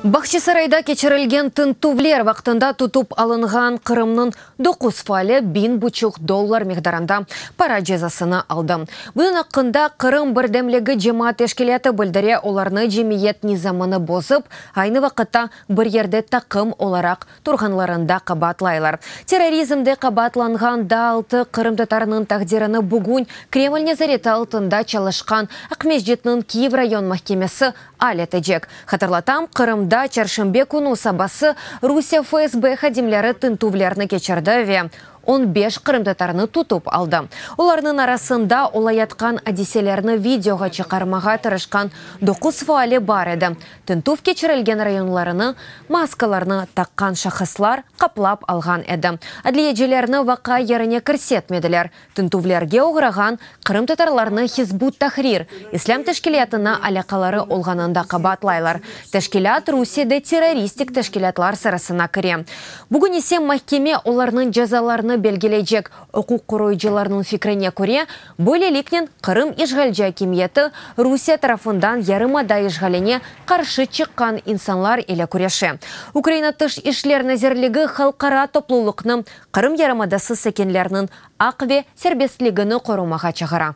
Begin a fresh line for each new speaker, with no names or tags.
Bağçasarayda keçirilgen tintüvler vaqtında tutıp alınğan Qırımnıñ doquz faali biñ buçuq dollar miqdarında para cezasını aldı. Bunıñ aqqında Qırım birdemligi cemaat teşkilâtı bildire, olarnı cemiyet nizamını bozıp, aynı vaqıtta bir yerde taqım olaraq turğanlarında qabaatlaylar. Terrorizmde qabaatlanğan daa altı qırımtatarnıñ taqdirini bugün Kreml nezareti altında çalışqan Aqmescitniñ Kiyev rayon mahkemesi al etecek. Hatırlatam, Qırımda çarşenbe künü sabası Rusiye FSB hadimleri tintüvlerni keçirdi ve On beş qırımtatarnı tutıp aldı. Olarnıñ arasında olayatqan adiselerni videoğa çıqarmağa tırışqan doquz faali bar edi. Tintüv keçirilgen rayonlarını maskalarnı taqqan şahıslar qaplap alğan edi. Adliyecilerni vaqa yerine kirsetmediler. Tintüvlerge oğrağan Qırımtatarlarnı Hizb ut-Tahrir islâm teşkilâtına alâqaları olğanını da qabaatlaylar. Teşkilât Rusiyede terroristik teşkilâtlar sırasına kire. Bugün ise mahkeme olarnıñ cezalarını belgileycek. Uquq qoruyıcılarnıñ fikrine köre, böyleliknen Qırım işğalci akimiyeti Rusiye tarafından yarımada işğaline qarşı çıqqan insanlar ile küreşe. Ukraina Tış işler nazirligi halqara toplulıqnı Qırım yarımadası sakinleriniñ aq ve serbestligini qorumağa çağıra.